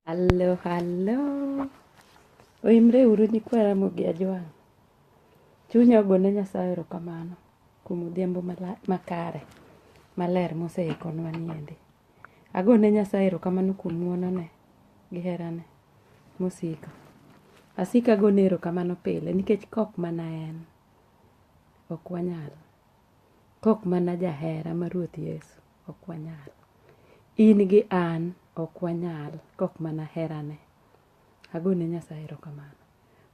Hallo, hallo. Oimre uru nyikwa Ramogi Ajwang'. Chunya ogone Nyasaye erokamano kuom odhiambo makare maler moseikonwa niendi. Agone Nyasaye erokamano kuom ng'wonone gi herane mosiko. Asiko agone erokamano pile nikech kok mana en ok wanyal. Kok mana jahera ma Ruoth Yesu, ok wanyal. In gi an ok wanyal kok mana herane. Agone Nyasaye erokamano.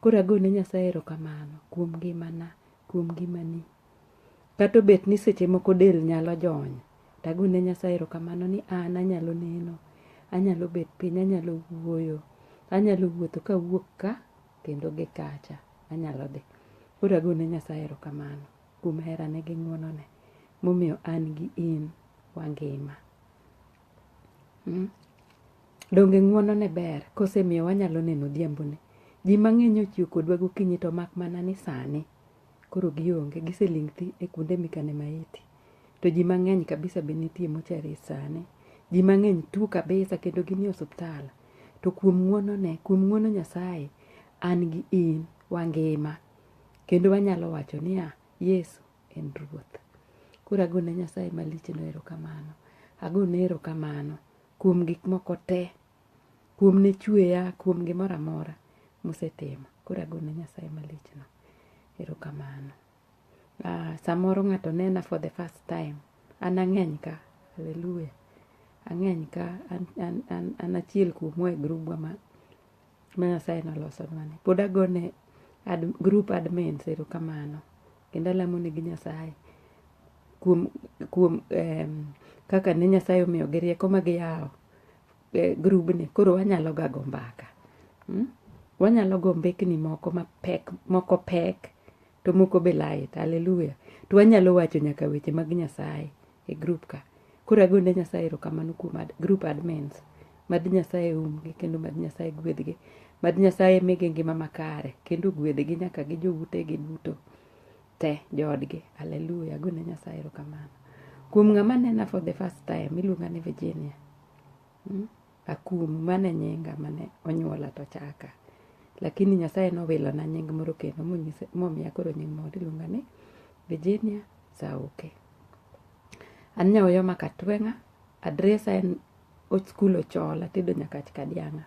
Koro agone Nyasaye erokamano kuom ngimana, kuom ngimani. Kata obet ni seche moko del nyalo jony, to agone Nyasaye erokamano ni an anyalo neno, anyalo bet piny, anyalo wuoyo, anyalo wuotho kawuok ka kendo gi kacha. Anyalo dhi. Koro agone Nyasaye erokamano. kuom herane gi ng'wonone momiyo an gi in wangima. Hmm? Donge ng'wonone ber kosemiyo wanyalo neno odhiambone? Ji mang'eny ochiwo kodwa gokinyi to mak mana ni sani koro gionge giseling' thi e kuonde mikane maiti. To ji mang'eny kabisa be nitie mochari sani. Ji mang'eny tuo kabisa kendo gin e osiptal. To kuom ng'wonone, kuom ng'wono Nyasaye, an gi in wangima Kendo wanyalo wacho niya, Yesu en Ruoth. Koro agone Nyasaye malichno erokamano. Agone erokamano kuom gik moko te, kuom ne chweya, kuom gimoro amora mosetimo. Koro agone Nyasaye malichno erokamano. Ah, samoro ng'ato nena for the first time. An ang'eny ka. Hallelujah. Ang'eny ka. An, an, an, an achiel kuomwa e grubwa ma ma Nyasaye nolosonwani. Pod agone ad, group admins erokamano kendo alamo negi Nyasaye kuom kuom um, kaka ne Nyasaye omiyogi rieko ma giyawo eh, grubni koro wanyalo ga go mbaka mm? wanyalo go mbekni moko mapek moko pek to moko be lait haleluya to wanyalo wacho nyaka weche mag nyasaye e grup ka koro agone nyasaye erokamano kuom ad, grup admins mad nyasaye umgi kendo mad nyasaye gwedhgi mad nyasaye migi ngima makare kendo gwedhgi nyaka gi joutegi duto te joodgi haleluya agone nyasaye erokamano kuom ng'ama nena for the first time iluonga ni virginia hmm? Akum, mano e nyinga mane onyuola to chaka. Lakini Nyasaye nowilona nying moro kendo monyisa- momiya koro nying moro iluonga ni Virginia Sauke. An Nyaoyo ma Katweng'a, adresa en Old School Ochola, Tedo Nyakach Kadiang'a.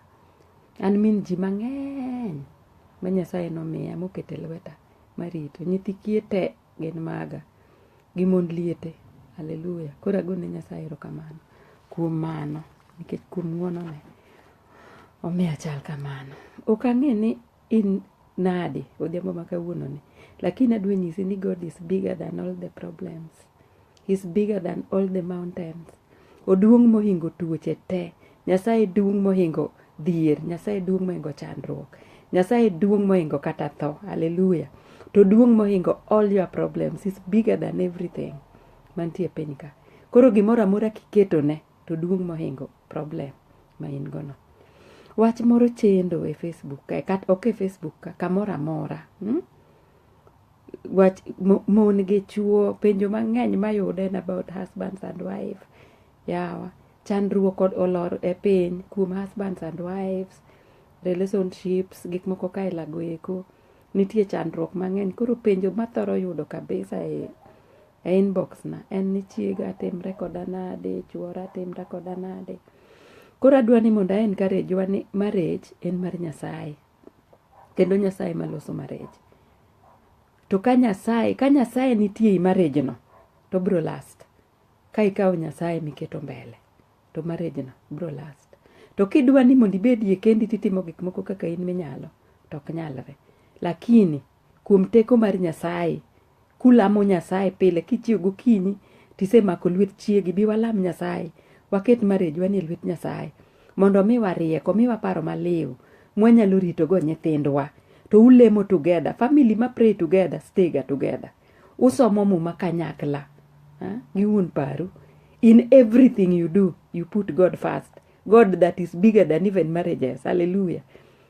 An min ji mang'eny ma Nyasaye nomiya moketo e lweta marito. Nyithi kiye te Gin maga. Gi mond liete. Hallelujah. Koro agone Nyasaye erokamano kuom mano nikech kuom ng'wonone omiyo achal kamano. Ok ang'e ni in nade odhiambo ma kawuononi lakini adwa nyisi ni God is bigger than all the problems. He's bigger than all the mountains. Oduong' mohingo tuoche te. Nyasaye duong' mohingo dhier. Nyasaye duong' mohingo chandruok. Nyasaye duong' mohingo kata tho. Hallelujah. To duong' mohingo all your problems. He's bigger than everything. Mantie piny ka. Koro gimoro amora kiketone to duong' mohingo problem ma in gono. Wach moro chendo e Facebook ka, kat, ok e Facebook ka, kamoro amora. Hmm? wach mo- mon gi chuo penjo mang'eny mayude en about husbands and wife yawa chandruok kod olor e piny kuom husbands and wives relationships gik moko kaelago eko nitie chandruok mang'eny koro penjo mathoro yudo kabisa e, e inbox na en ni chiega timre koda nade chuora timre koda nade koro adwa ni mondo a encourage wa ni marriage en mar nyasaye kendo nyasaye ema loso marriage to ka nyasaye ka nyasaye nitie ei marriage no to bro last ka ikawo nyasaye miketo mbele to marriage no bro last to kidwa ni mondo ibedie kendi titimo gik moko kaka in minyalo to ok nyalre lakini Kuom teko mar Nyasaye, kulamo Nyasaye pile kichiew gokinyi tisemako lwet chiegi, bi walam Nyasaye, waket marriage wani e lwet Nyasaye mondo omiwa rieko, omiwa paro maliw mwanyalo ritogo nyithindwa. To ulemo together, family ma pray together stay ga together. Usomo muma kanyakla ha? gi wuon paru. In everything you do, you put God first. God that is bigger than even marriages. Hallelujah.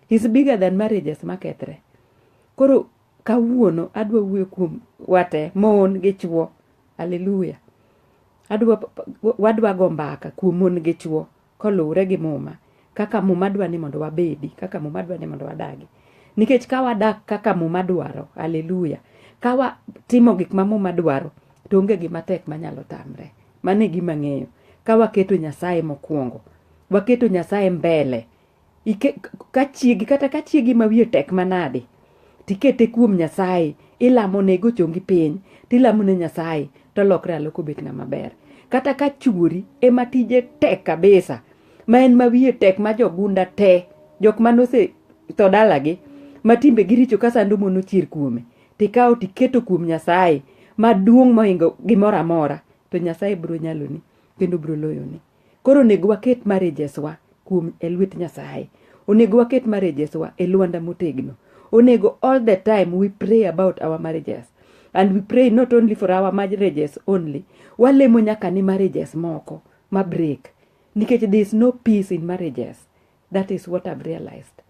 He's bigger than marriages makethre. Koro kawuono adwa wuoyo kuom wate mon gi chwo. Haleluya. Adwa wadwa go mbaka kuom mon gi chwo koluwre gi muma kaka muma dwa ni mondo wabedi, kaka muma dwa ni mondo wadagi. Nikech ka wadak kaka muma dwaro, haleluya, ka watimo gik ma muma dwaro, to onge gima tek manyalo tamre. Mano e gima ng'eyo. Ka waketo Nyasaye mokwongo, waketo Nyasaye mbele Ike, ka chiegi kata ka chiegi ma wiye tek manade tikete kuom nyasaye ilamo ne go chongi piny tilamo ne nyasaye to lokre aloko bet ng'ama ber kata ka chuori ema tije tek kabisa ma en ma wiye tek ma jogunda te jok mane ose tho dalagi ma timbe giricho ka sando mon ochier kuome tikawo tiketo kuom nyasaye maduong' mohingo gimoro amora to nyasaye biro nyaloni kendo biro loyoni Koro onego waket marriages wa kuom e lwet Nyasaye. Onego waket marriages wa e lwanda motegno. Onego all the time we pray about our marriages. And we pray not only for our marriages only. Walemo nyaka ni marriages moko ma break. Nikech there is no peace in marriages. That is what I've realized.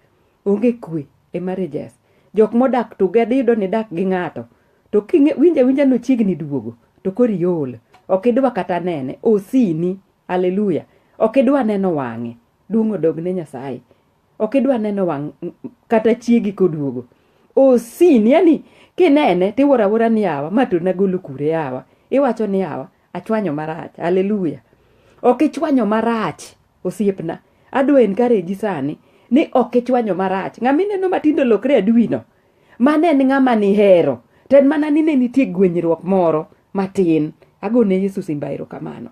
Onge kwe e marriages. Jok modak to gadi iyudo ni dak gi ng'ato. To kinge winja winja no chiegni duogo. To kori yol. Ok idwa kata nene. Osini. Hallelujah. Ok idwa neno wang'e. Duong' odog ne Nyasaye. Ok idwa neno wang' kata chiegi koduogo. Osini. Yani kinene tiwora wora ni awa. Ma to nagolo kure awa. Iwacho ni awa. Achwanyo marach. Hallelujah. Ok ichwanyo marach. Osiepna, adwa encourage sani ni ok ichwanyo marach. Ng'ama ineno matindo lokre aduwino, mano en ng'ama nihero. To en mana ni ne nitie gwenyruok moro matin. Agone Yesu simba erokamano.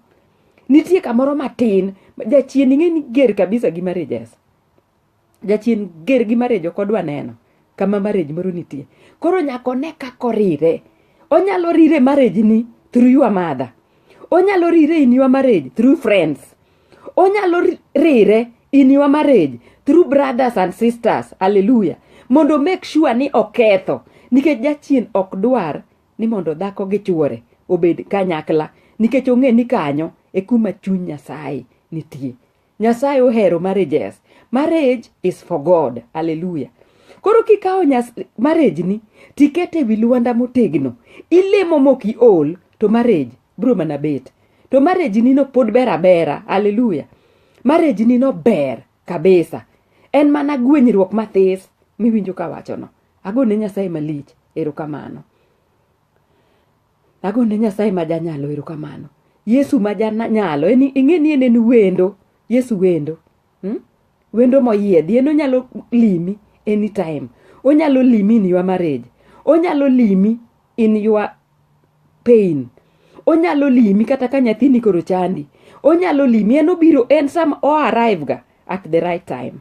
Nitie kamoro matin, jachien ing'e ni ger kabisa gi marriages. jachien ger gi marriage ok odwa neno kama marriage moro nitie koro nyaka one kaka orire onyalo rire marriage ni through your mother onyalo rire in your marriage through friends onyalo ri- rire in your marriage through brothers and sisters hallelujah mondo make sure ni oketho nikech jachien ok dwar ni mondo dhako gi chuore obed kanyakla nikech ong'e ni kanyo e kuma chuny nyasaye nitie Nyasaye ohero marriages. Marriage is for God. Hallelujah. Koro kikawo marriage ni tikete ewi luanda motegno, ilemo mok iol to marriage bro mana bet. To marriage ni no pod ber abera. Hallelujah. Marriage ni no ber kabisa. En mana gwenyruok mathis miwinjo kawachono. Agone Nyasaye malich. Erokamano. Ago ne Nyasaye ma janyalo erokamano. Yesu ma janyalo, en ing'e ni en en wendo. Yesu wendo. Hmm? Wendo moyiedhi, en onyalo limi anytime. Onyalo limi in your marriage. Onyalo limi in your pain. Onyalo limi kata ka nyathini koro chandi. Onyalo limi, en obiro, en sama o arrive ga at the right time.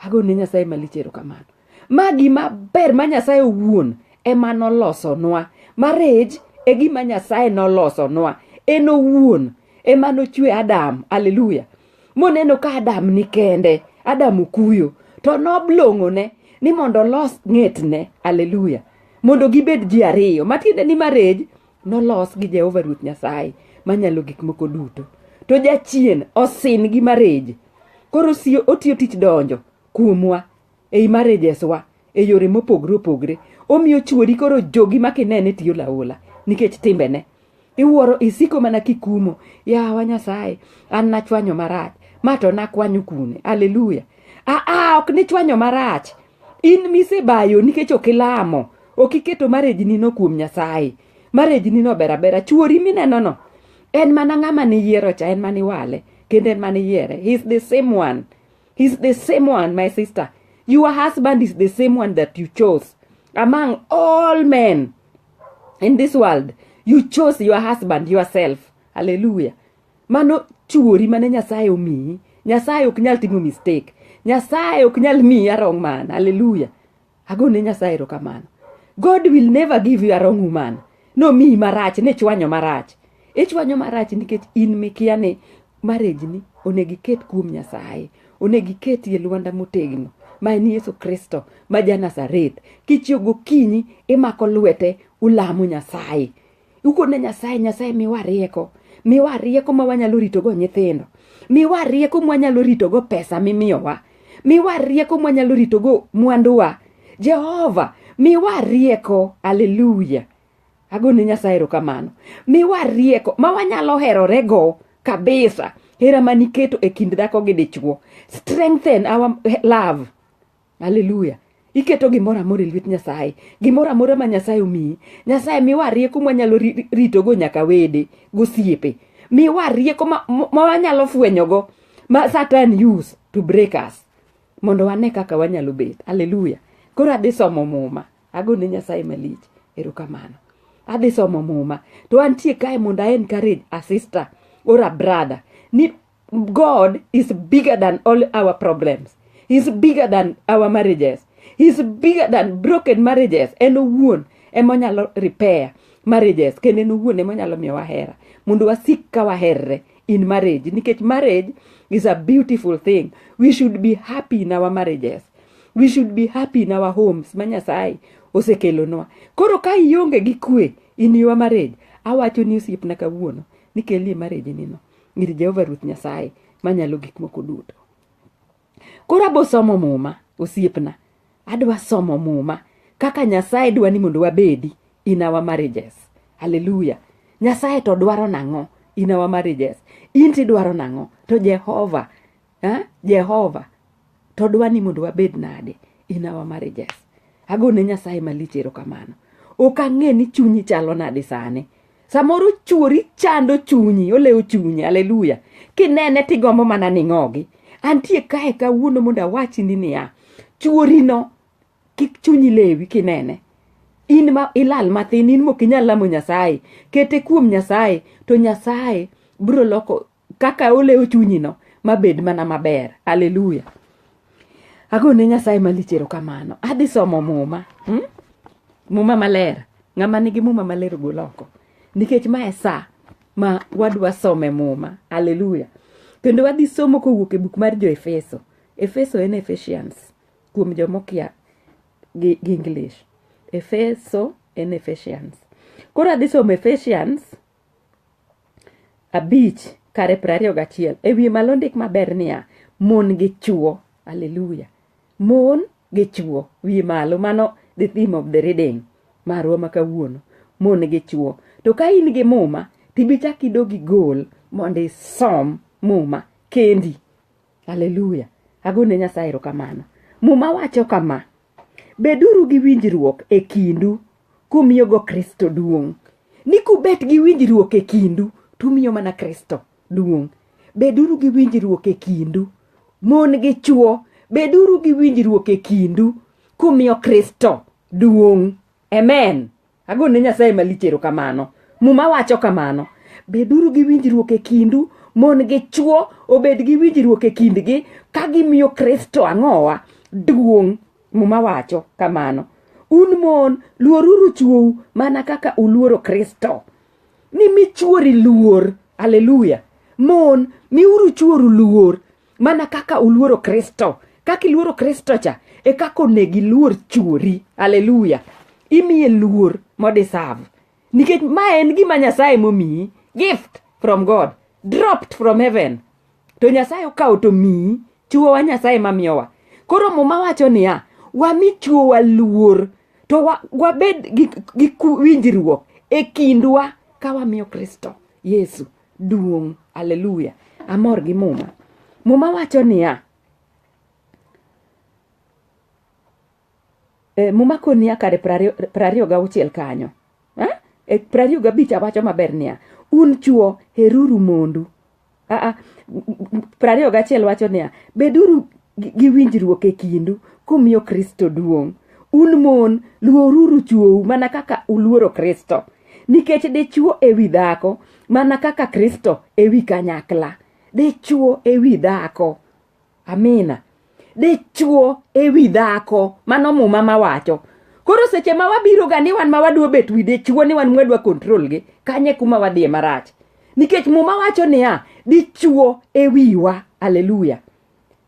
Ago ne Nyasaye malich erokamano. Ma gima ber ma Nyasaye owuon ema nolosonwa. Marriage e gima Nyasaye nolosonwa. En owuon ema nochwe Adam. Hallelujah. Moneno ka Adam ni kende. Adam okuyo. To noblong'one ni mondo olos ng'etne. Hallelujah. Mondo gibed ji ariyo. Matiende ni marriage Nolos gi Jehova Ruoth Nyasaye manyalo gik moko duto. To jachien osin gi mareje. Koro siyo otiyo tich donjo kuomwa ei marejeswa e yore mopogre opogre. Omiyo chuori koro jogi ma kinene tiyo laola nikech timbene. Iwuoro isiko mana kikumo. Yawa Nyasaye, an nachwanyo marach. Ma to nakwanyo kune. Haleluya. Aa, ok nichwanyo marach. in misebayo nikech ok ilamo ok iketo marejnino kuom nyasaye marejnino ber abera chuori minenono en mana ng'ama niyiero cha en mana iwale kendo en mana iyiere heis the same one heis the same one my sister your husband is the same one that you chose among all men in this world you chose your husband yourself hallelujah Mano chuori mane Nyasaye omiyi. Nyasaye ok nyal timo mistake. Nyasaye ok nyal miyi a wrong man. Hallelujah. Agone Nyasaye erokamano. God will never give you a wrong woman. Nomiyi marach, nichwanyo marach. Ichwanyo marach nikech in mikia ni marriage ni onego iket kuom Nyasaye. Onego iketie lwanda motegno ma en Yesu Kristo ma ja Nazareth. Kichiew gokinyi imako lwete ulamo Nyasaye. ukone nyasaye nyasaye miwa rieko miwa rieko ma wanyalo ritogo nyithindo miwa rieko mwanyalo ritogo pesa mimiyowa miwa rieko mwanyalo ritogo mwanduwa jehova miwa rieko aleluya agone nyasaye erokamano miwa rieko ma wanyalo herorego kabisa hera ma niketo e kind dhako gi dichwo strengthen our love Haleluya. Iketo gimoro amora e lwet Nyasaye. Gimoro amora ma Nyasaye omiyi. Nyasaye miwa rieko ma wanyalo ritogo nyaka wede gosiepe. Miwa rieko ma wanyalo fwenyogo ma Satan use to break us. Mondo wane kaka wanyalo bet. Haleluya. Koro adhi somo muma. Ago ne Nyasaye malich. Erokamano. Adhi somo muma. To antie kae mondo a encourage a sister or a brother. Ni God is bigger than all our problems. He's bigger than our marriages. He's bigger than broken marriages. En owuon ema onyalo repair marriages kendo en owuon ema onyalo miyo wahera mondo wasik ka waherre in marriage nikech marriage is a beautiful thing. We should be happy in our marriages. We should be happy in our homes ma Nyasaye osekelonwa. Koro ka ionge gi kwe in your marriage, awacho ni osiepna kawuono ni kelie marriage nino. ir Jehova Ruoth Nyasaye manyalo gik moko duto. Koro abo somo muma, osiepna. Adwa somo muma kaka Nyasaye dwa ni mondo wabedi in our marriages. Hallelujah. Nyasaye to dwaro nang'o in our marriages? In tidwaro nang'o? To Jehova ha? jehova to dwa ni mondo wabed nade in our marriages agone nyasaye malich erokamano ok ang'e ni chunyi chalo nade sani samoro chuori chando chunyi olewo chunyi aleluya kinene tigombo mana ning'ogi antie kae kawuono mondo awachni niya chuorino kik chunyi lewi kinene in ma ilal mathin in mok inyal lamo nyasaye kete kuom nyasaye to nyasaye bro loko kaka olewo chunyino mabed mana maber aleluya agone nyasaye malich erokamano adhi somo muma hmm? muma maler ng'ama nigi muma maler gol oko nikech ma e sa ma wadwa some muma aleluya kendo wadhi somo kowuok e buk mar jo efeso efeso en efesians kuom jomokia gi, gi english efeso en efesians koro adhi somo efesians abich kare piero ariyo gachiel e wiye malo ndik maber niya mon gi chuo aleluya mon gi chuo wiye malo mano the theme of the reading marwa ma kawuono mon gi chuo to ka in gi muma tibichak idog igol mondo isom muma kendi aleluya agone nyasaye erokamano muma wacho kama Beduru gi winjruok e kindu kumiyogo Kristo duong'. Ni kubet gi winjruok e kindu to umiyo mana Kristo duong'. Beduru gi winjruok e kindu. Mon gi chwo, beduru gi winjruok e kindu kumiyo Kristo duong'. Amen. Ago ne Nyasaye malich erokamano. Muma wacho kamano, Beduru gi winjruok e kindu, mon gi chwo obed gi winjruok e kindgi ka gimiyo Kristo ang'owa duong'. Muma wacho kamano. Un mon, luoruru chwou mana kaka uluoro Kristo. Nimi chwori luor. Haleluya! Mon, miuru chworu luor mana kaka uluoro kristo kaka iluoro kristo cha e kaka onego iluor chuori aleluya imiye luor modisav nikech ma en gima nyasaye momiyi gift from god dropped from heaven to nyasaye okawo to miyi chuowa nyasaye mamiyowa koro muma wacho niya wami chuowa luor to wa, wabed gi, gi ku- winjruok e kindwa ka wamiyo kristo yesu duong' aleluya amor gi muma muma wacho niya e, muma konia kare prariyo ga auchiel kanyo eh? e, prariyo ga abich awacho maber niya un chuo heruru mondu aa prariyo ga achiel wacho niya beduru gi winjruok e kindu kumiyo Kristo duong'. Un mon, luoruru chwou mana kaka uluoro Kristo, nikech dichwo e wi dhako mana kaka Kristo e wi kanyakla. Dichwo e wi dhako. Amina. Dichwo e wi dhako. Mano muma mawacho. Koro seche ma wabiro ga ni wan ma wadwa bet wi dichwo ni wan mwadwa kontrol gi, kanye kuma wadhiye marach. Nikech muma wacho niya, dichwo e wiwa. Aleluya.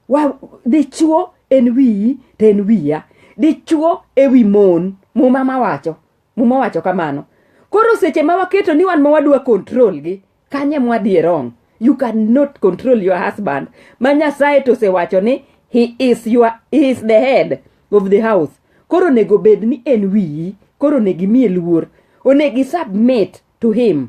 Wa dichuo en wiyi to en wiya. Dichuo e wi mon. Muma ma wacho. Muma wacho kamano. Koro seche ma waketo ni wan ma wadwa control gi, kanye mwa dhi wrong? You cannot control your husband. Ma Nyasaye to osewacho ni he is your he is the head of the house. Koro onego bed ni en wiyi. Koro onego imiye luor. Onego i submit to him.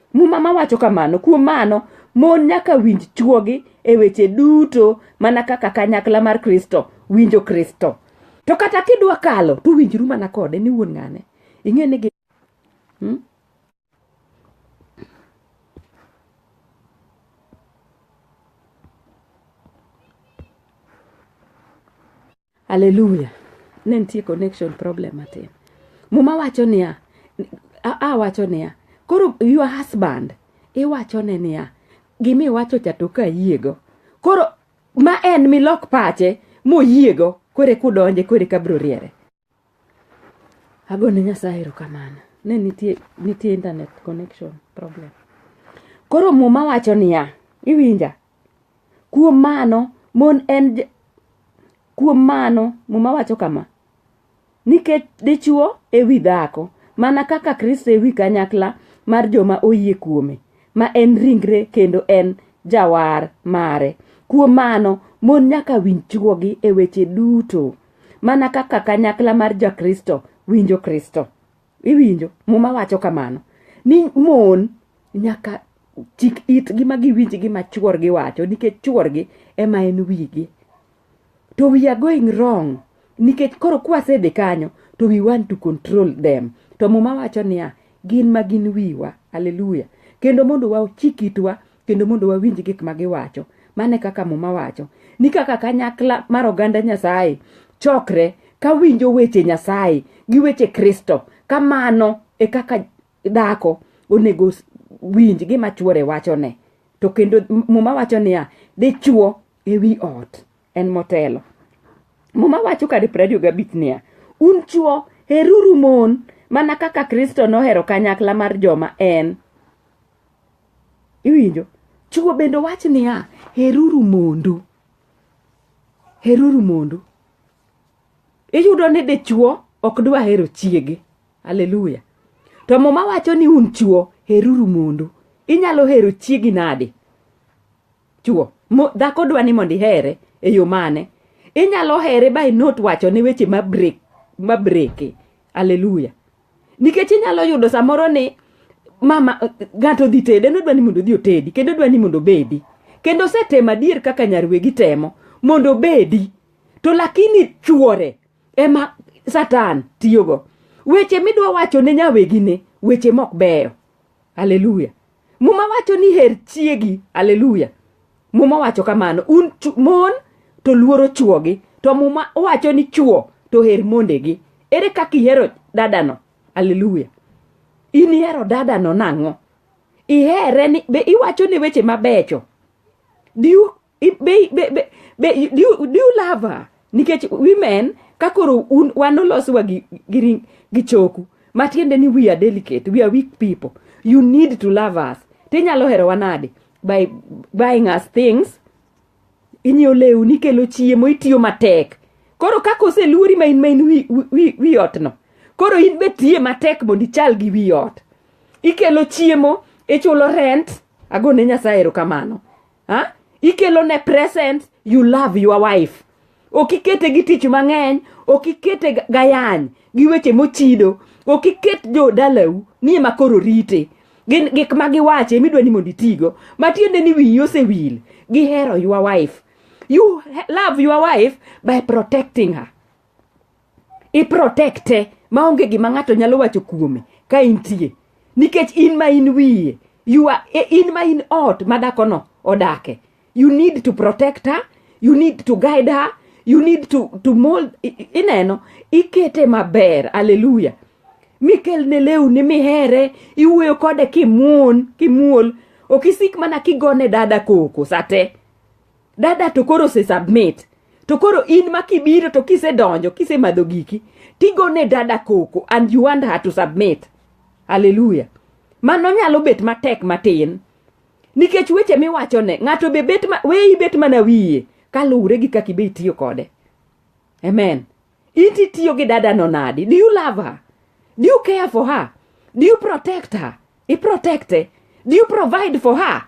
Muma ma wacho kamano, kuom mano, mon nyaka winj chwogi e weche duto mana kaka kanyakla mar Kristo winjo Kristo. To kata kidwa kalo, to winjru mana kode ni wuon ng'ane. Ing'e ni hmm? Hallelujah. Ne nitie connection problem matin. Muma wacho niya, a, a wacho niya, koro your husband iwacho ne niya, gima iwacho cha to kayiego. Koro ma en milok pache moyiego kore kudonje kore kabro riere. Agone Nyasaye erokamano. Ne nitie, nitie internet connection problem. Koro muma wacho niya, iwinja? Kuom mano, mon en j- kuom mano muma wacho kama nikech dichwo e wi dhako mana kaka kristo e wi kanyakla mar joma oyie kuome ma en ringre kendo en jawar mare kuom mano mon nyaka winj chwogi e weche duto mana kaka kanyakla mar jakristo winjo kristo iwinjo muma wacho kamano ni mon nyaka chik itgi ma giwinj gima chuorgi wacho nikech chuorgi ema en wigi to we are going wrong nikech koro kwasedhi kanyo to we want to control them to muma wacho niya gin ma gin wiwa aleluya kendo mondo wachik itwa kendo mondo wawinj gik ma giwacho mane kaka muma wacho ni kaka kanyakla mar oganda nyasaye chokre ka winjo weche nyasaye gi weche kristo kamano e kaka dhako onego winj gima chuore wachone to kendo muma wacho niya dichuo e wi ot en motelo muma wacho kadi prariyo gabich niya un chuo heruru mon mana kaka kristo nohero kanyakla mar joma en Iwinjo? Chuo bende wach niya, heruru mondu. Heruru mondu. Iyudo ni dichuo ok dwa hero chiege. Haleluya. To muma wacho ni un chuo heruru mondu. Inyalo hero chiegi nade? Chuo. Dhako dwa ni mondo ihere e yo mane? Inyalo here by not wacho ne weche ma break ma breke. Haleluya. nikech inyalo yudo samoro ni mama ng'ato dhi tede en odwa ni mondo odhi otedi kendo odwa ni mondo obedi kendo osetemo adier kaka nyarwegi temo mondo obedi to lakini chuore ema satan tiyogo weche midwa wacho ne nyawegine weche mok beyo Haleluya. Muma wacho ni her chiegi. Haleluya. Muma wacho kamano. Un mon to luoro chuogi. To muma wacho ni chuo to her mondegi. Ere kaka ihero dadano? Haleluya. In ihero dadano nang'o? Ihere ni be iwacho ni weche mabecho. Do you be, be, be, be, do, you, do you love her nikech women ka koro un wan oloswa gi, gi, gi choku matiende ni we are delicate we are weak people you need to love us tinyalo herowa nade by buying us things inyiewo lewni ikelo chiemo itiyo matek koro kaka oseluori ma in ma in wi, wi, wi otno koro in be tiye matek mondo ichal gi wi ot ikelo chiemo ichulo rent agone nyasaye erokamano ha? ikelo ne present you love your wife ok ikete gi tich mang'eny ok ikete ga- gayany gi weche mochido ok iket jodalau ni ema koro rite gin gik ma giwacho ema idwa ni mondo itigo matiende ni wiyi osewil gihero your wife you he- love your wife by protecting her iprotekte maonge gima ng'ato nyalo wacho kuome ka intie nikech in ma in wiye you are, e, in ma in ot ma dhakono odake you need to protect her you need to guide her you need to, to mold ineno ikete maber aleluya mikelne lewni mihere iwuoyo kode kimuon kimuol ok isik mana kigone dada koko sate dada to koro se submit to koro in ma kibiro to kisedonjo kisemadho giki tigone dada koko and you want her to submit haleluya mano nyalo bet matek matin nikech weche miwachone ng'ato be bet ma, we ibet mana wiye kaluwre gi kaka ibe itiyo kode amen Inti itiyo gi dada no nadi? Do you love her? Do you care for her? Do you protect her? I protecte? Do you provide for her?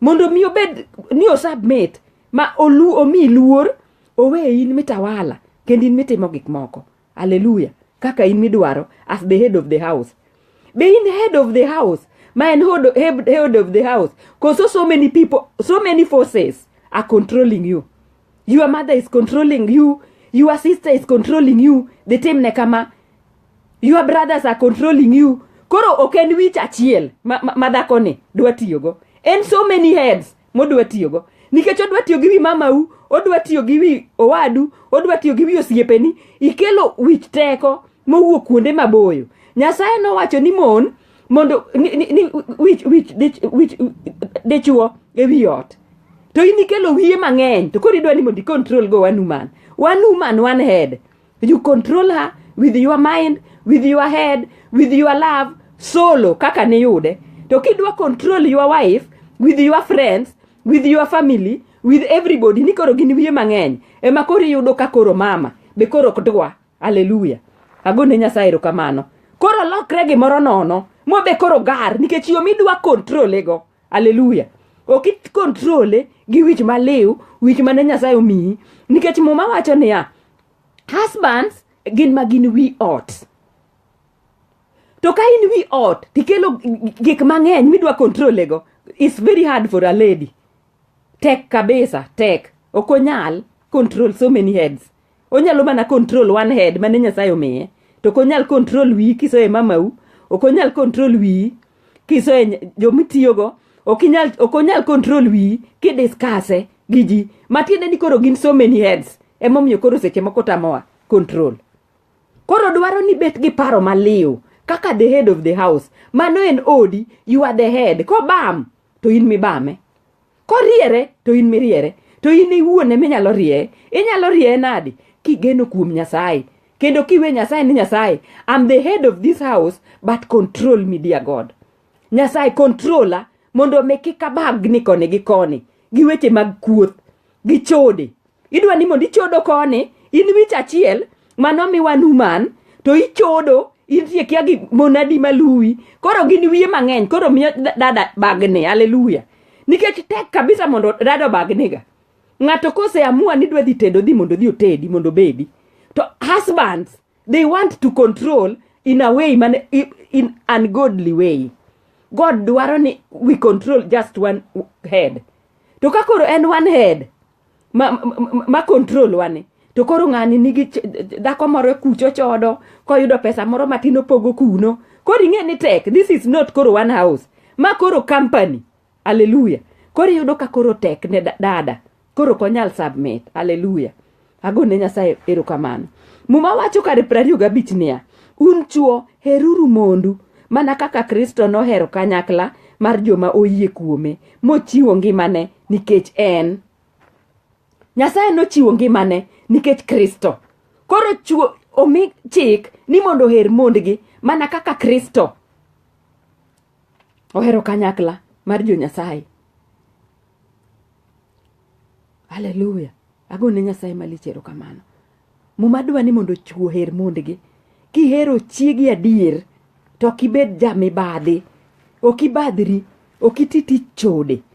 Mondo mi obed ni osubmit ma olu omi luor owe in mitawala kendo in mitimo gik moko. Hallelujah. Kaka in midwaro as the head of the house. Be in head of the house ma en head, head, head of the house because so many people so many forces are controlling you your mother is controlling you your sister is controlling you the time ne kama your brothers are controlling you koro ok en wich achiel ma, ma, ma dhakoni dwa tiyogo en so many heads modwa tiyogo nikech odwa tiyo gi wi mamau odwa tiyo gi wi owadu odwa tiyo gi wi osiepeni ikelo wich teko mowuok kuonde maboyo nyasaye nowacho ni mon mondo ni, ni, ni, wich, wich, dich, wich, dichuo e wi ot to in ikelo wiye mang'eny to koro idwa ni mondo icontrol go one woman one woman one head you control her with your mind with your head with your love solo kaka niyude to kidwa control your wife with your friends with your family with everybody ni koro gin wiye mang'eny ema koro iyudo ka koro mama be koro ok dwa Haleluya. Agone Nyasaye erokamano. Koro lokre gimoro nono mobe koro gar nikech yo midwa kontrole go. Haleluya. Ok ikontrole gi wich maliw, wich mane Nyasaye omiyi nikech muma wacho niya, husbands gin ma gin wi ot. To ka in wi ot tikelo gik mang'eny midwa kontrole go, it's very hard for a lady. Tek kabisa, tek. Ok onyal control so many heads. onyalo mana control one head mane nyasaye omiye to ok onyal control wiyi kisoye mamau ok onyal control wiyi kisoye ny- jomitiyogo ok inyal- ok onyal control wiyi kidiskase gi ji matiende ni koro gin so many heads emomiyo koro seche moko tamowa control koro dwaro ni bet gi paro maliw kaka the head of the house mano en odi you are the head kobam to in mibame koriere to in miriere to in iwuon ema inyalo rieye inyalo rieye nadi kigeno kuom nyasaye kendo kiwe nyasaye ni nyasaye am the head of this house but control me dear god nyasaye controla mondo mi kik abagni koni gi koni gi weche mag kuoth gi chode idwa ni mondo ichodo koni in wich achiel manomiwa numan to ichodo intie kia gi monadi maluwi koro gin wiye mang'eny koro miyo da- dada bagne haleluya nikech tek kabisa mondo dada obagnega ng'ato koseamua ni dwa dhi tedo dhi mondo dhi otedi mondo obedi to husbands they want to control in a way man i- in ungodly way god dwaro ni we control just one head to ka koro en one head ma, ma, ma, ma control wani to koro ng'ani nigi ch- dhako moro kucho chodo koyudo pesa moro matin opogo kuno koro ing'e ni tek this is not koro one house ma koro company aleluya koro iyudo ka koro tek ne da- dada koro ok onyal submit aleluya agone nyasaye erokamano muma wacho kare piero ariyo gabich niya un chuo heruru mondu mana kaka kristo nohero kanyakla mar joma oyie kuome mochiwo ngimane nikech en nyasaye nochiwo ngimane nikech kristo koro chuo omi chik ni mondo oher mondgi mana kaka kristo ohero kanyakla mar jonyasaye haleluya agone nyasaye malich erokamano muma dwa ni mondo chuo oher mondgi kihero chiegi adier to ok ibed jamibadhi ok ibadhri ok iti tich chode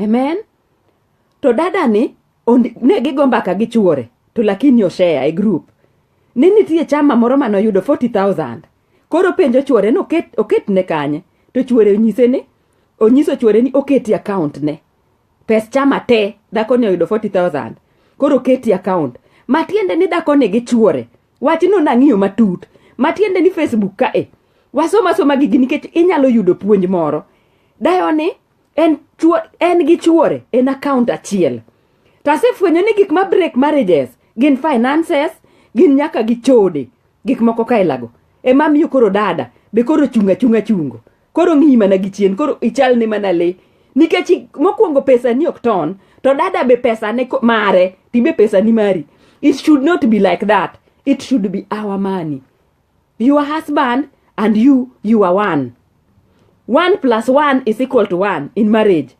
amen to dada ni ne gigo mbaka gi chuore to lakini oshare e group ni nitie chama moro mane oyudo 40000 koro penjo chuore ni oket, oket ne kanye to chuore onyise ni onyiso chuore ni oketi account ne pes chama te dhako ni oyudo 40000 koro oketi account matiende ni dhako ni gi chuore wachno nang'iyo matut matiende ni facebook kae wasoma soma gigi nikech inyalo yudo puonj moro dayo ni en, chwo, en gi chuore en account achiel to asefwenyo ni gik ma break marriages gin finances gin nyaka gi chode gik moko ka ilago ema miyo koro dada be koro chunga chunga chungo koro ng'iyi mana gi chien koro ichal ne mana le nikech i- mokwongo pesa ni ok ton to dada be pesa ne ko- mare tibe pesa ni mari it should not be like that it should be our money Your husband and you, you are one. One plus one is equal to one in marriage.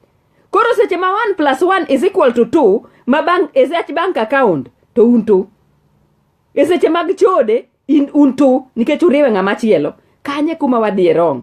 Koro seche ma one plus one is equal to two, ma bank, is at bank account to un two. E seche mag chode in un two nikech uriwe ng'ama chielo. Kanye kuma wadhi e wrong.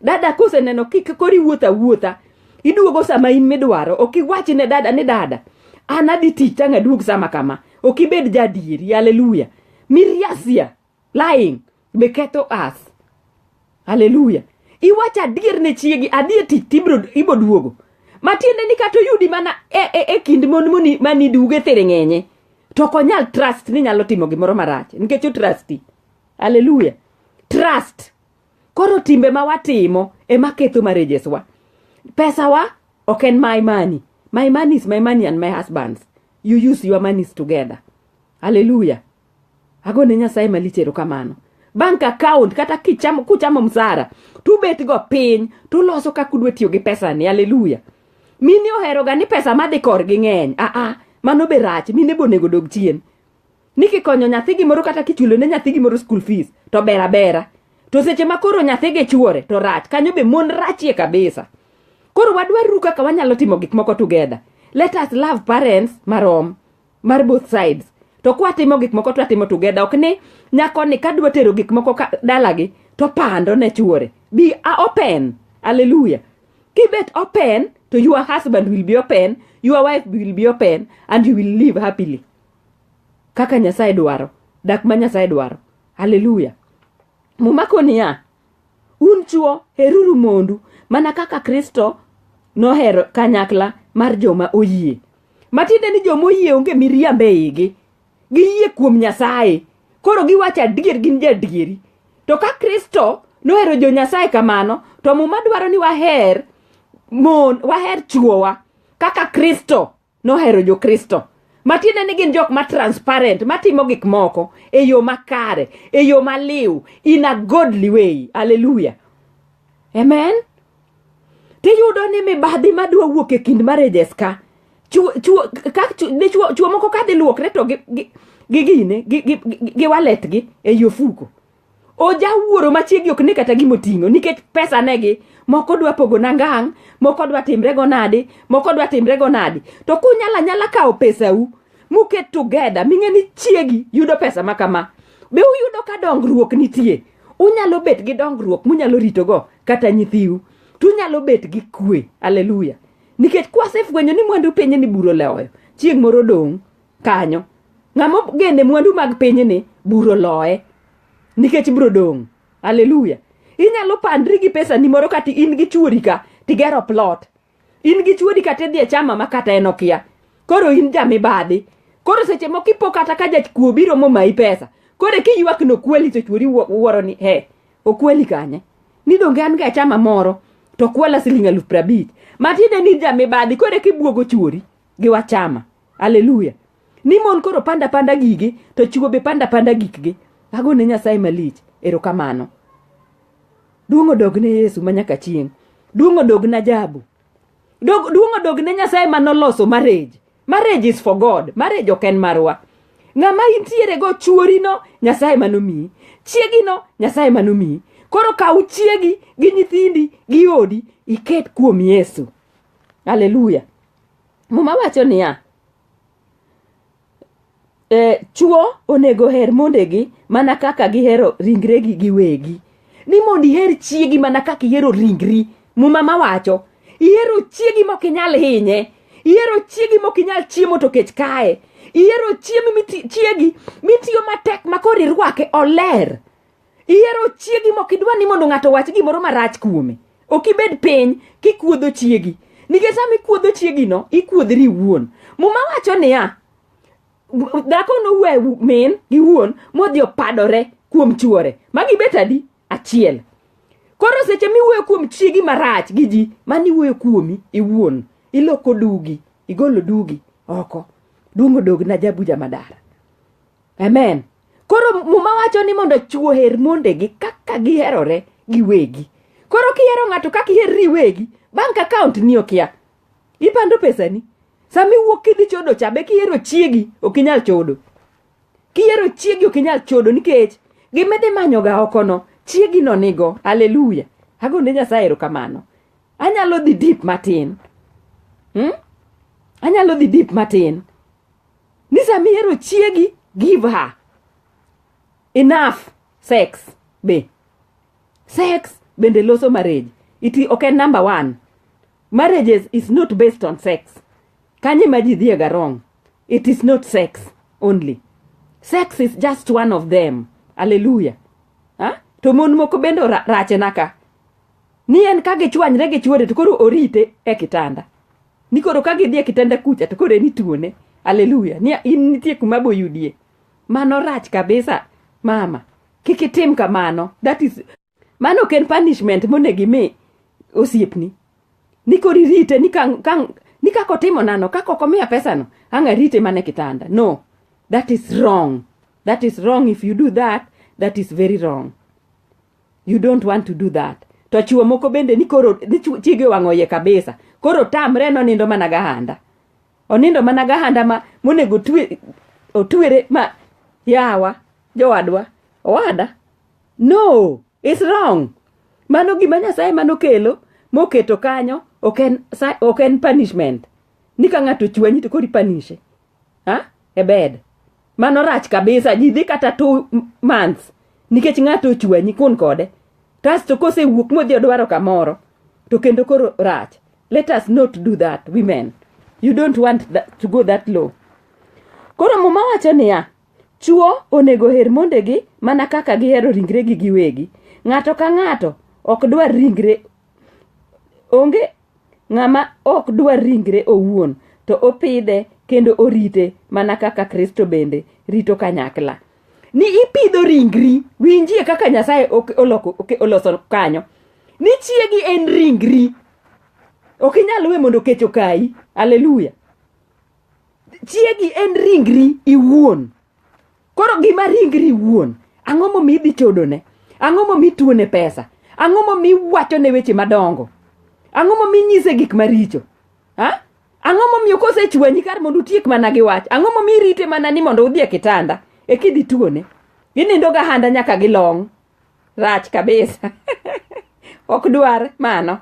Dada koseneno kik kori wuotha wuotha. Iduogo sama in midwaro. Ok iwach ne dada ni dada. An adhi tich tang' aduog sama kama. Ok ibed jadieri. Hallelujah. Miriasia. Lying. Be ketho us. Hallelujah. Iwacho adier ne chiegi, adier tich tibro ibo duogo. Matiende ni kata oyudi mana e, e, e kind mon moni mani duge thiring'enye. To ok onyal trust ni nyalo timo gimoro marach. Nikech o trusti. Hallelujah. Trust. Koro timbe ma watimo ema ketho marriages wa. Pesa wa ok en my money. My money is my money and my husband's. You use your monies together. Hallelujah. Agone Nyasaye malich erokamano. Bank account kata kichamo kuchamo msara tubet go piny tuloso kaka udwa tiyo gi pesa ni. Hallelujah. Mini oheroga ni pesa madhi korgi ng'eny. Ah ah, mano be rach. Mine bonego dog chien. ni kikonyo nyathi gimoro kata kichulo ne nyathi gimoro school fees to ber abera to seche ma koro nyathi gi chuore to rach kanyo be mon rachie kabisa koro wadwaruru kaka wanyalo timo gik moko together let us love parents marom mar both sides to kwatimo gik moko twatimo together ok ni nyakoni kadwa tero gik moko ka- dalagi to pando ne chuore be a open alleluya kibet open to your husband will be open your wife will be open and you will live happily kaka nyasaye dwaro dak ma nyasaye dwaro haleluya muma ko niya un chuo heruru mondu mana kaka kristo nohero kanyakla mar joma oyie matiende ni joma oyie onge miriambo e igi giyie kuom nyasaye koro giwacho adier gin jaadieri to ka kristo nohero jo nyasaye kamano to muma dwaro ni waher mon waher chuowa kaka kristo nohero jokristo matiende ni gin jok ma transparent matimo gik moko e yo makare e yo maliw in a godly way aleluya amen tiyudo ni mibadhi madwa wuok e kind marriages ka chuo moko kadhi luokre to gi gine gi waletgi e yofuko oja wuoro ma chiegi ok ne kata gima oting'o nikech pesa negi moko dwa pogo na ngang' moko dwa timre go nadi moko dwa timre go nadi to kunyala nyala kawo pesau muket together ming'e ni chiegi yudo pesa ma kama be uyudo ka dongruok nitie unyalo bet gi dongruok munyalo ritogo kata nyithiu to unyalo bet gi kwe aleluya nikech kwasefwenyo ni mwandu piny ni buro leoyo chieng' moro dong' kanyo ng'ama ogene mwandu mag pinyni buro loye nikech bro dong' aleluya inyalo pandri gi pesa ni moro kata in gi chuori ka tigero plot in gi chuori kata idhi e chama ma kata en okia koro in jamibadhi koro seche moko ipo kata ka jakuo biro momayi pesa koro kiywak ni okweli to chuori wuoro ni he okweli kanye ni donge an ga e chama moro to kwala siling' aluf prabich matiende ni jamibadhi koro kibuogo chuori gi wachama aleluya ni mon koro panda panda gigi to chiwo be panda panda gikgi ago ne nyasaye malich erokamano duong' odog ne yesu ma nyaka chieng' duong' odog na jabu Dog- duong' odog ne nyasaye ma noloso marriage marriage is for god marriage ok en marwa ng'ama intiere go chuorino nyasaye manomiyi chiegino nyasaye manomiyi koro kaw chiegi gi nyithindi gi odi iket kuom yesu aleluya muma wacho niya e, chuo onego her mondegi mana kaka gihero ringregi giwegi ni mondo iher chiegi mana kaka ihero ringri muma ma wacho ihero chiegi mok inyal hinye ihero chiegi mok inyal chiemo to kech kae ihero chiemo chiegi mitiyo matek makoro irwake oler ihero chiegi mok idwa ni mondo ng'ato wach gimoro marach kuome ok ibed piny kikuodho chiegi nikech sama ikuodho chiegino ikuodhri iwuon muma wacho niya dhako nowe min gi wuon modhi opadore kuom chuore ma gibet adi achiel koro seche miwuoyo kuom chiegi marach gi ji mani wuoyo kuomi iwuon iloko dugi igolo dugi oko duong odog na jabuja madara amen koro muma wacho ni mondo chwo her mondegi kaka giherore giwegi koro kihero ng'ato kaka iherri iwegi bank account ni okia ipando pesani sama iwuok kidhi chodo cha be kihero chiegi ok inyal chodo kihero chiegi ok inyal chodo nikech gimidhi manyoga okono chiegi no nigo aleluya agone nyasaye erokamano anyalo dhi dip matin hmm? anyalo dhi dip matin ni sama ihero chiegi give her enough sex be sex bende loso marriage it ok en number one marriages is not based on sex kanye ma ji dhiega wrong it is not sex only sex is just one of them haleluya ha? to mon moko bende ora- rachena ka ni en ka gichwanyre gi chuore to koro orite e kitanda ni koro ka gidhi e kitanda kucha to koro en ituone aleluya ni in nitie kuma boyudie mano rach kabisa mama kik itim kamano that is mano ok en punishment monego imi osiepni ni koro irite ni ka- ka- ni kaka otimo nano kaka ok omiya pesano ang' arite mana e kitanda no that is wrong that is wrong if you do that that is very wrong you don't want to do that to chuo moko bende ni koro ni chu- chiege owang'o iye kabisa koro tamre ni onindo mana gahanda onindo mana gahanda ma monego otwe- otwere ma yawa jowadwa owada no is wrong mano gima nyasaye mano kelo moketo kanyo ok en sa- ok en punishment ni ka ng'ato chwanyi to kori panishe ha? e bed mano rach kabisa ji dhi kata two months nikech ng'ato ochwanyi kun kode kasto kosewuok modhi odwaro kamoro to kendo koro rach let us not do that women you don't want that, to go that low koro muma wacho niya chuo onego her mondegi mana kaka gihero ringregi giwegi ng'ato ka ng'ato ok dwar ringre onge Ng'ama ok dwar ringre owuon, to opidhe kendo orite mana kaka Kristo bende rito kanyakla. Ni ipidho ringri, winjie kaka Nyasaye oloso kanyo. Ni chiegi en ringri. Ok inyal we mondo kech okayi. Aleluya. Chiegi en ringri iwuon. Koro gima ringri wuon, ang'o momi idhi chodone? Ang'o momi tuone pesa? Ang'o momi iwacho ne weche madongo? Ang'o momi inyise gik maricho? Ha? Ang'o momiyo kosechwanyi kar mondo utiek mana gi wach? Ang'o momi irite mana ni mondo udhi e kitanda e kidhi tuone? Ginindo gahanda nyaka gilong'. Rach kabisa. ok dwar mano.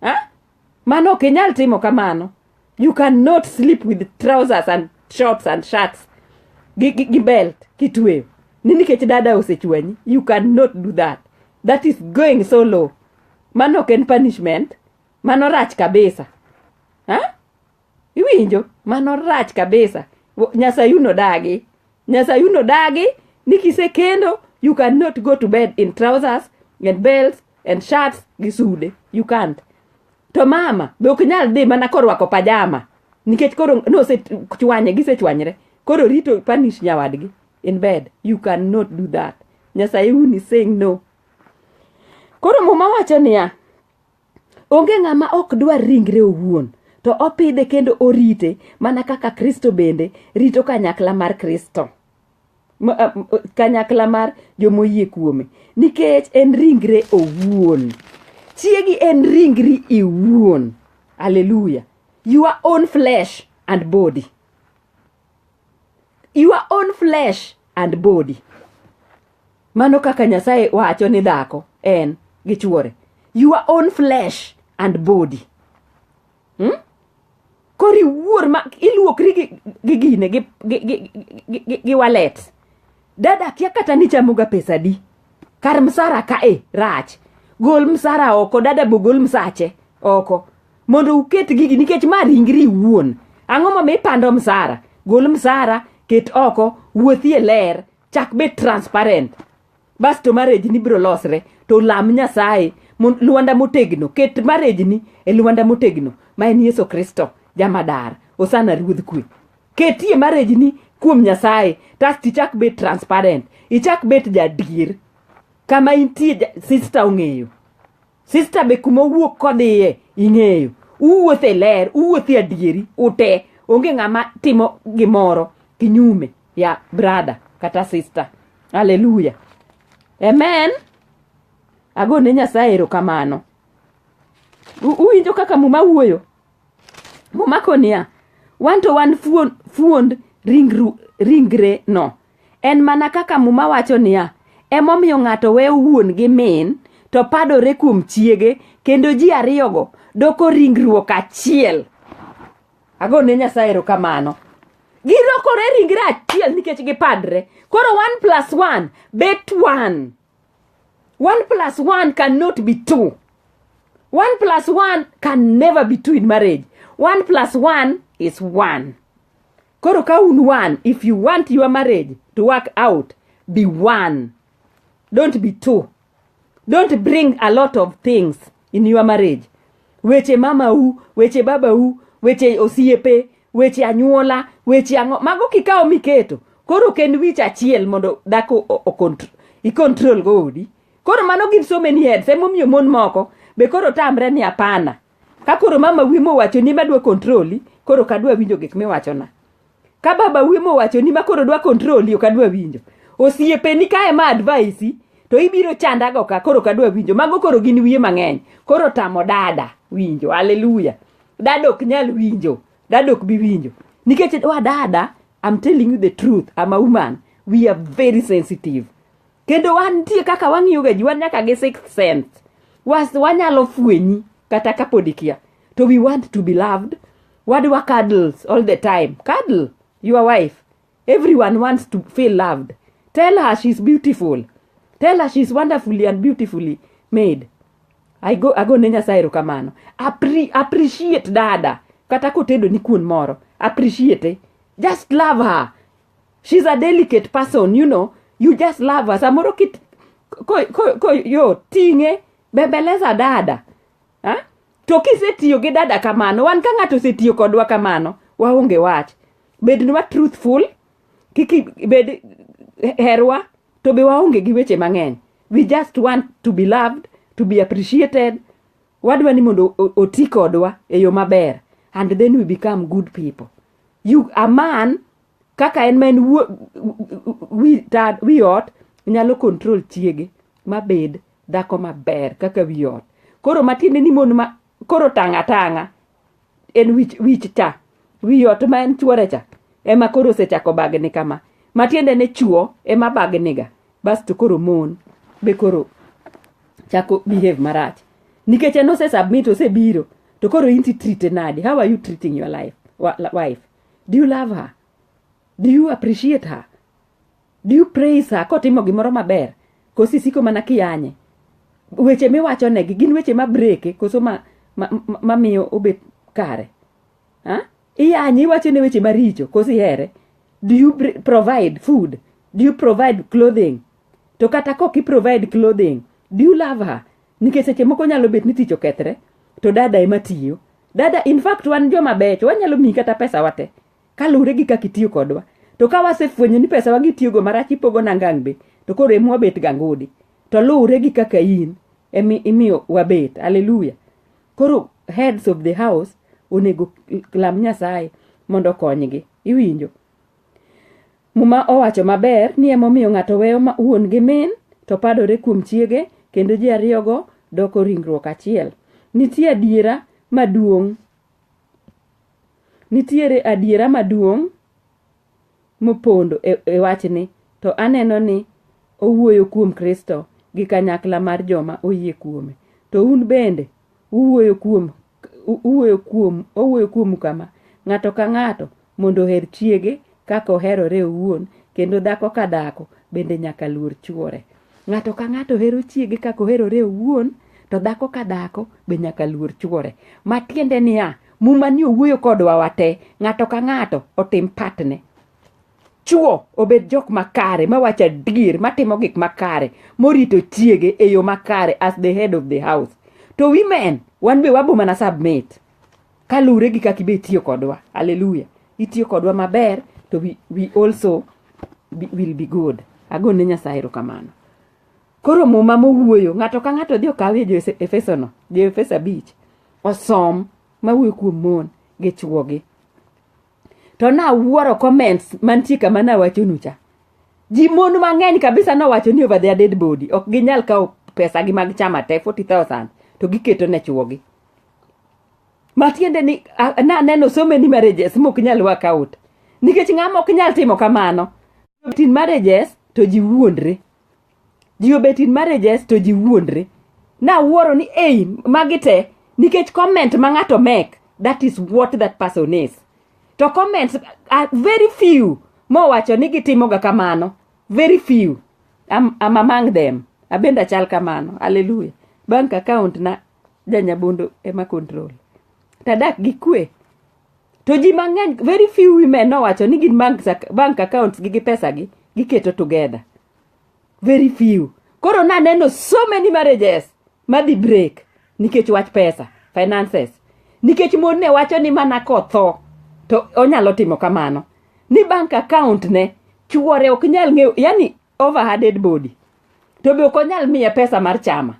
Ha? Mano ok inyal timo kamano. You cannot sleep with trousers and shorts and shirts gi, gi, gi belt kitweyo ni nikech dada osechwanyi you cannot do that that is going so low mano ok en punishment mano rach kabisa ha? Iwinjo? Mano rach kabisa. Wo- Nyasaye uno dagi. Nyasaye uno dagi ni kisekendo you cannot go to bed in trousers and belts and shirts gi sude. You can't. To mama be ok nyal dhi mana korwako pajama nikech koro nosechwanye gisechwanyre. Koro rito punish nyawadgi in bed. You cannot do that. Nyasaye uni saying no. Koro muma wacho niya, Onge ng'ama ok dwar ringre owuon, to opidhe kendo orite mana kaka Kristo bende rito kanyakla mar Kristo. Kanyakla mar jomoyie kuome. Nikech en ringre owuon. Chiegi en ringri iwuon. Hallelujah. Your own flesh and body. Your own flesh and body. Mano kaka Nyasaye wacho ni dhako en gi chuore. Your own flesh and body. Hmm? Kori wuor ma iluokri gi, gi gine gi, gi, gi, gi, gi, gi walet. Dada kia kata ni chamoga pesa di. Kar msara ka e rach. Gol msara oko, dada bo gol msache oko. Mondo uket gigi nikech ma ringri iwuon. Ang'o momiyo ipando msara? Gol msara, ket oko, wuothie ler, chak bed transparent basto marriage ni biro losre to lam nyasaye mon- lwanda motegno ket marriage ni e lwanda motegno ma en yesu kristo jamadar osana ruodh kwe ketie marriage ni kuom nyasaye tasti chak bed transparent ichak bet jadier kama intie ja- sister ong'eyo Sista be kuma owuok kodhiye ing'eyo. Uwuoth e ler, uwuoth e adieri, ute. Onge ng'ama timo gimoro kinyume ya brada kata sista. Haleluya. Amen. Ago ne Nyasaye erokamano. U- Uwinjo kaka muma wuoyo? Muma koniya, wan to wan fuon- fuond ringru- ringre no. En mana kaka Muma wacho niya, Emomiyo ng'ato weyo wuon gi min, to padore kuom chiege, kendo ji ariyogo doko ringruok achiel. Ago ne Nyasaye erokamano. Gilokore ringre achiel nikech gipadre. Koro one plus one bet one. One plus one cannot be two. One plus one can never be two in marriage. One plus one is one. Koro ka un one, if you want your marriage to work out, be one. Don't be two. Don't bring a lot of things in your marriage. Weche mama u, weche baba u, weche osiepe, weche anyuola, weche ang'o. Mago kikawo miketo. Koro ok en wich achiel mondo dhako o- o- contr- i-control go odi. Koro mano give so many heads. Emomiyo mon moko be koro tamre ni apana. Ka koro mama wiyi mowacho ni madwa kontroli, koro ok adwa winjo gik miwachona. Ka baba wiyi mowacho ni ma koro dwa kontroli, ok adwa winjo. Osiepeni ka ema advaisi, to ibiro chandago ka, koro ok adwa winjo. Mago koro gin wiye mang'eny. Koro tamo dada winjo. Hallelujah. Dada ok nyal winjo. Dada ok bi winjo. Nikech wa dada, I'm telling you the truth, I'm a woman. We are very sensitive. kendo wantie kaka wang'iyoga ji wan nyaka gi sixth sense was wanyalo fwenyi kata kapod ikia to we want to be loved wadwa cuddles all the time cuddle your wife everyone wants to feel loved tell her she's beautiful tell her she's wonderfully and beautifully made I go, I go ne nyasaye erokamano Appre, appreciate dada kata kotedo ni kuon moro appreciate just love her she's a delicate person you know you just love her samoro kit ko, ko, ko yo ting'e bembeleza dada ha? to kisetiyo gi dada kamano wan ka ng'ato osetiyo kodwa kamano waonge wach bednwa truthful kik i- bed herwa to be waonge gi weche mang'eny we just want to be loved to be appreciated wadwa ni mondo o- oti kodwa e yo maber and then we become good people you a man kaka en ma en wi ot nyalo control chiege mabed dhako maber kaka wi ot koro matiende ni mon ma koro tanga tanga en wich, wich cha wi ot ma en chuore cha ema koro osechako bagni kama matiende ni chuo ema bagniga Bas to koro mon be koro chako behave marach nikech en ose submit osebiro to koro inti treate nadi how are you treating your life wa- la- wife do you love her do you appreciate her do you praise her kotimo gimoro maber koso isiko mana kiyanye weche miwacho negi gin weche ma breke koso ma, ma, ma, ma miyo obet kare ha? Iyanyi iwacho ne weche maricho koso ihere. Do you br- provide food? Do you provide clothing? To kata kok i provide clothing, do you love her? Nikech seche moko nyalo bet ni tich okethre to dada ema tiyo. Dada in fact wan joma becho wanyalo miyi kata pesa wate kaluwre gi kaka itiyo kodwa. To ka wasefwenyo ni pesa wagi tiyogo marach ipogo na ngang' be to koro ema wabet gangudi. To luwre gi kaka in emi imiyo wabet. Hallelujah. koro heads of the house onego lam nyasaye mondo okonygi iwinjo muma owacho maber ni emomiyo ng'ato weyo ma- wuon gi min to padore kuom chiege kendo ji ariyogo doko ringruok achiel nitie adiera maduong' nitiere adiera maduong' mopondo e, e wachni, to aneno ni owuoyo kuom Kristo gi kanyakla mar joma oyie kuome. To un bende uwuoyo kuom uwuoyo kuom owuoyo kuomu kama, ng'ato ka ng'ato mondo oher chiege kaka oherore owuon, kendo dhako ka dhako bende nyaka luor chwore. Ng'ato ka ng'ato hero chiege kaka oherore owuon, to dhako ka dhako be nyaka luor chwore. Matiende niya, muma ni owuoyo kodwa wate, ng'ato ka ng'ato otim patne. Chwo obed jok makare, mawacho adier, matimo gik makare, morito chiege e yo makare as the head of the house. To women, wan be wabo mana submit. kaluwre gi kaka ibe itiyo kodwa aleluya itiyo kodwa maber to we, we also be, will be good ago ne nyasaye erokamano koro muma mowuoyo ng'ato ka ng'ato dhi okawie jo efesono jo efeso abich osom mawuoyo kuom mon gi chwogi to nawuoro comments mantie kama nawachonu cha ji mon mang'eny kabisa nowacho ni over their dead body ok ginyal kawo pesagi mag chama te 40000 to giketo ne chwogi matiende ni naneno so many marriages mok nyal work out nikech ng'ama ok nyal timo kamano tin marriages to ji wuondre ji obet in marriages to ji wuondre nawuoro ni ei magi te nikech comment ma ng'ato mek that is what that person is to comments are very few mowacho ni gitimoga kamano very few I'm, I'm among them abende achal kamano haleluya bank account na janyabondo ema control tadak gi kwe to ji mang'eny very few women nowacho ni gin bank, ac- bank accounts gi gi pesa gi giketo together very few koro naneno so many marriages madhi break nikech wach pesa finances nikech mon ne wacho ni mana kotho to onyalo timo kamano ni bank account ne chuore ok nyal ng'eyo yani over her dead body to be ok onyal miye pesa mar chama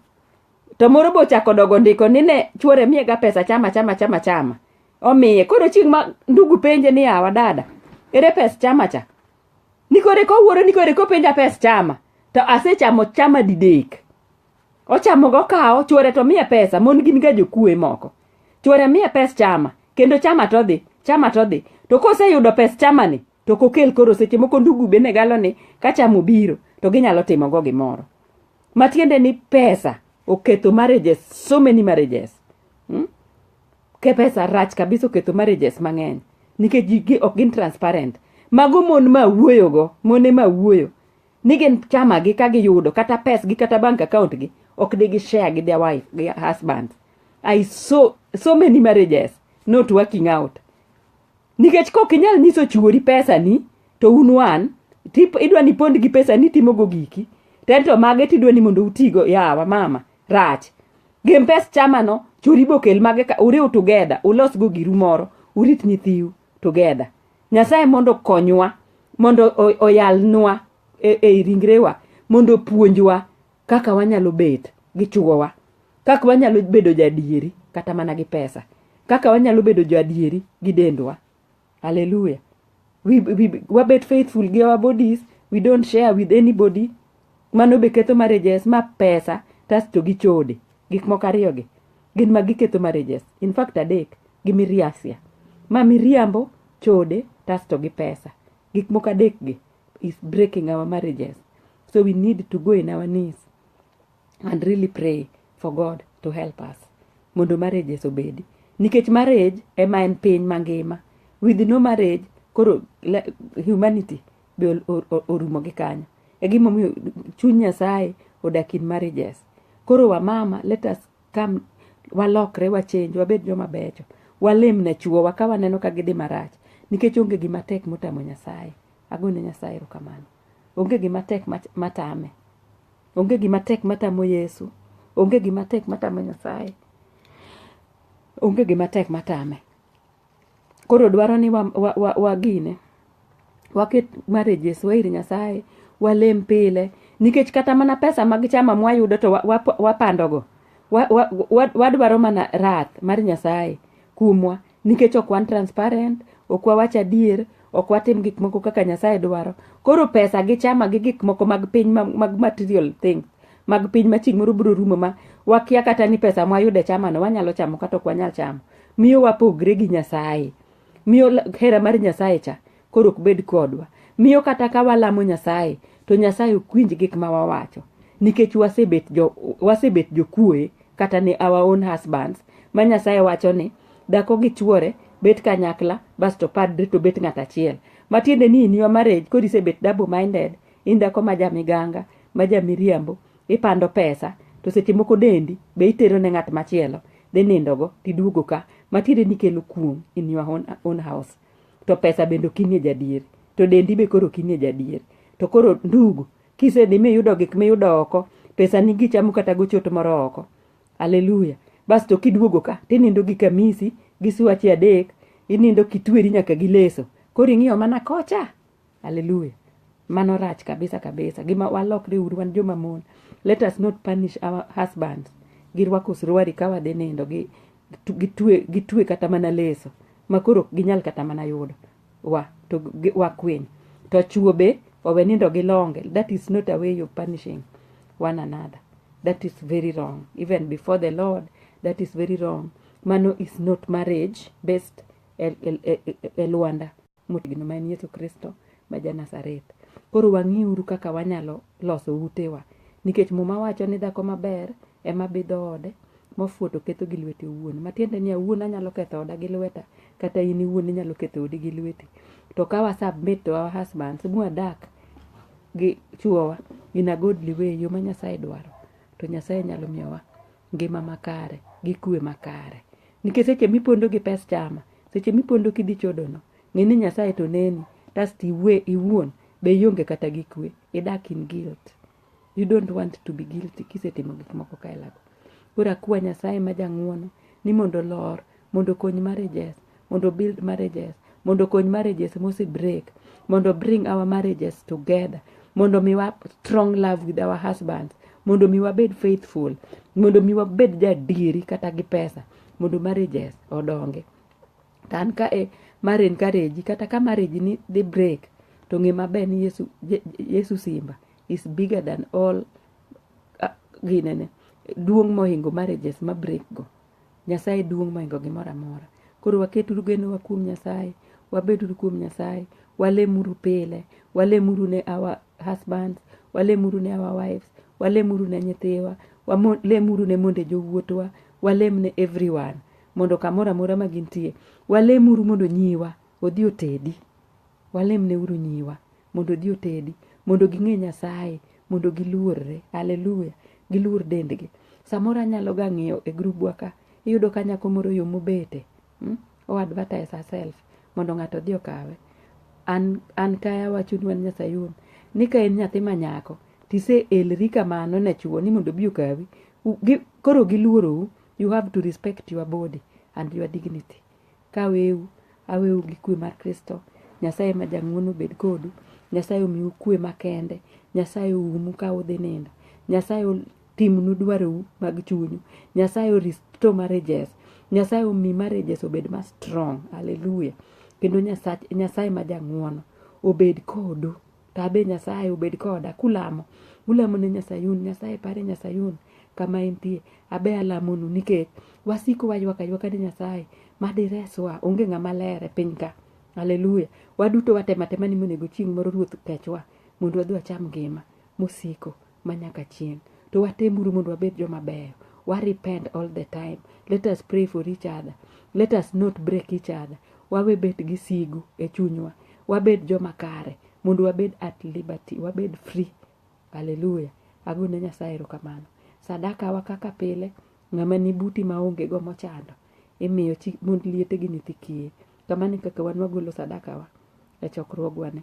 to moro be ochako dogo ndiko ni ne chuore miyega pesa chama chama chama chama omiye koro chieng' ma ndugu penje ni awa dada ere pes chama cha ni kore kowuoro ni kore kopenja pes chama to asechamo chama didek ochamo go kawo chuore to miye pesa mon gin ga jokue moko chuore miye pes chama kendo chama to dhi chama to dhi to koseyudo pes chama ni To kokel koro seche moko ndugu be ne galo ni ka cham obiro to ginyalo timo go gimoro. Matiende ni pesa oketho marriages, so many marriages. Hmm? Ke pesa rach kabisa oketho marriages mang'eny. Nikech ji ok gin transparent. Mago mon ma wuoyo go, mone ma wuoyo. Ni gin chama gi ka giyudo kata pes gi kata bank account gi ok de gi share gi their wife, gi husband. I so, so many marriages not working out. nikech kok inyal nyiso chuori pesani to un wan idwa ni pond gi pesa ni timogo giki tento mage tidwa ni mondo utigo yawa mama rach gem pes chamano churi bokel mage ka uriw together ulosgo giru moro urit nyithiu together nyasaye mondo konywa mondo oyalnwa e, e ringrewa mondo puonjwa kaka wanyalo bet gi chuowa, kaka wanyalo bedo jadieri kata mana gi pesa, kaka wanyalo bedo jadieri gi dendwa. Hallelujah. We, we, wabet faithful gi our bodies, we don't share with anybody. Mano be ketho marriages ma pesa tasto gi chode. Gik moko ariyo gi gin ma giketho marriages. In fact adek gi miriasia. Ma miriambo, chode tasto gi pesa. Gik moko adek gi is breaking our marriages. So we need to go in our knees and really pray for God to help us mondo marriages obedi. Nikech marriage ema en piny mangima. With no marriage, koro humanity be orumo gi kanyo. E gimomiyo chuny Nyasaye odak in marriages. Koro wamama, let us come walokre wachenj wabed joma becho walem ne chuowa ka waneno ka gidhi marach nikech onge gima tek motamo nyasaye agone nyasaye erokamano Onge gima tek matame. Onge gima tek matamo Yesu. Onge gima tek matamo Nyasaye. Onge gima tek matame. Koro dwaro ni wa, wa, wa, wagine. Waket marriages wa ir Nyasaye. Walem pile. Nikech kata mana pesa mag chama mwayudo to wapandogo. Wa, wa, wa, wa, wadwaro mana rath mar Nyasaye kumwa. nikech ok wan transparent ok wawach adier ok watim gik moko kaka nyasaye dwaro koro pesa gi chama gi gik moko mag piny ma- mag material things mag piny ma chieng' moro biro rumo ma wakia kata ni pesa mwayudo e chamano wanyalo chamo kata ok wanyal chamo miyo wapogre gi nyasaye miyo la- hera mar nyasaye cha koro ok bed kodwa miyo kata ka walamo nyasaye to nyasaye ok winj gik ma wawacho nikech wasebet jo wasebet jokuoye kata ne our own husbands ma nyasaye wacho ni dhako gi chuore bet kanyakla basto padre to bet ng'at achiel matiende ni in your marriage koro isebet double minded in dhako ma jamiganga ma jamiriambo ipando pesa to seche moko dendi be itero ne ng'at machielo dhi nindogo tiduogo ka matiende ni kelo kuong in your own, own house to pesa bende ok inie jadier to dendi be koro ok inie jadier to koro ndugu kisedhi miyudo gik miyudo oko pesa ni gichamo kata gochot moro oko aleluya bas to kiduogo ka tinindo gi kamisi gi swache adek inindo kitweri nyaka gi leso koro ing'iyo mana kocha Hallelujah. Mano rach kabisa kabisa. Gima walokre uru wan joma mon. Let us not punish our husbands. Girwako suruari ka wadhi nindo gi gitwe gitwe kata mana leso makoro ginyal kata mana yudo wa to wakwiny to chuo be owe nindo gi longe that is not a way of punishing one another that is very wrong even before the lord that is very wrong mano is not marriage based e, e, e, e, e Luanda motegno ma en Yesu Kristo ma ja Nazareth. Koro wang'iuru kaka wanyalo loso utewa, nikech Muma wacho ni dhako maber ema bidho ode, mofuwo to ketho gi lwete owuon. Matiende ni awuon anyalo ketho oda gi lweta, kata in iwuon inyalo ketho odi gi lweti. To ka wa submit to our husbands, mwadak gi chuowa in a godly way, yo ma Nyasaye dwaro, to Nyasaye nyalo miyowa ngima makare gi kwe makare. Nikech seche mipondo gi pes chama, seche mipondo kidhi chodono, ng'e ni Nyasaye to neni, tasto iwe iwuon be ionge kata gi kwe, idak in guilt. You don't want to be guilty kisetimo gik moko kaelago. Koro akwa Nyasaye ma jang'uono ni mondo olor, mondo okony marriages, mondo obuild marriages, mondo kony marriages mose break mondo bring our marriages together mondo miwa strong love with our husbands mondo mi wabed faithful mondo mi wabed jadieri kata gi pesa mondo marriages odonge to an ka e mar encourage kata ka marriage ni dhi break to ng'e maber ni yesu, yesu simba is bigger than all uh, ginene duong' mohingo marriages ma break go Nyasaye duong' moingo gimoro amora. Koro waketuru genowa kuom Nyasaye, wabeduru kuom Nyasaye, walemuru pile, walemuru ne our husbands, walemuru ne our wives, walemuru ne nyithiwa, walemuru ne monde jowuotwa, walem ne everyone mondo kamoro amora ma gintie. Walemuru mondo nyiwa odhi otedi. Walemne uru nyiwa mondo odhi otedi, mondo ging'e Nyasaye, mondo giluorre. Haleluya. Giluor dendgi. Samoro anyalo ga ng'iyo e grubwa ka, iyudo ka nyako moro yo mobete, hmm? o advertise herself mondo ng'ato odhi okawe. An, an kaya awachonu an Nyasayun, ni ka en nyathi ma nyako, tise elri kamano ne chuo ni mondo obi okawi. U, gi, koro giluorou, you have to respect your body and your dignity. Kaweu, aweu gi kwe mar Kristo. Nyasaye ma jang'wono bed kodu. Nyasaye omiu kwe makende. Nyasaye oumu ka udhi nindo. Nyasaye timnu dwarou mag chunyu. Nyasaye oristo marriages. Nyasaye omi marriages obed ma strong. Hallelujah. Kendo Nyasaye ma jang'wono obed kodu. To abe Nyasaye obed koda. Kulamo, ulamo ne Nyasayun, Nyasaye pare Nyasayun kama entie. Abe alamonu nikech wasiko waywak aywaka ne Nyasaye ma direswa. Onge ng'ama ler e piny ka. Haleluya. Waduto watema tema ni monego chieng' moro Ruoth kechwa mondo wadhi wacham ngima mosiko. manyaka chieng' to watemuru mondo wabed joma beyo wa repent all the time let us pray for each other let us not break each other wawe bet gi sigu e chunywa wabed joma kare mondo wabed at liberty wabed free haleluya agone nyasaye erokamano sadakawa kaka pile ng'ama ni buti maonge go mochando imiyo chi mond liete gi nyithi kiye kamano e kaka wan wagolo sadakawa e chokruogwani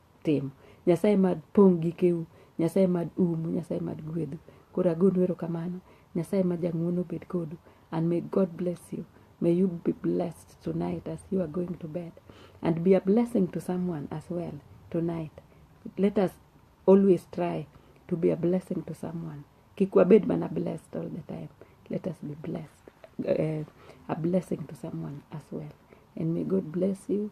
timo. Nyasaye mad pong' gikeu, Nyasaye mad umu, Nyasaye mad gwedhu. Koro agonu erokamano, Nyasaye ma jang'wono obed kodu and may God bless you. May you be blessed tonight as you are going to bed and be a blessing to someone as well tonight. Let us always try to be a blessing to someone. Kik wabed mana blessed all the time. Let us be blessed, uh, a blessing to someone as well. And may God bless you.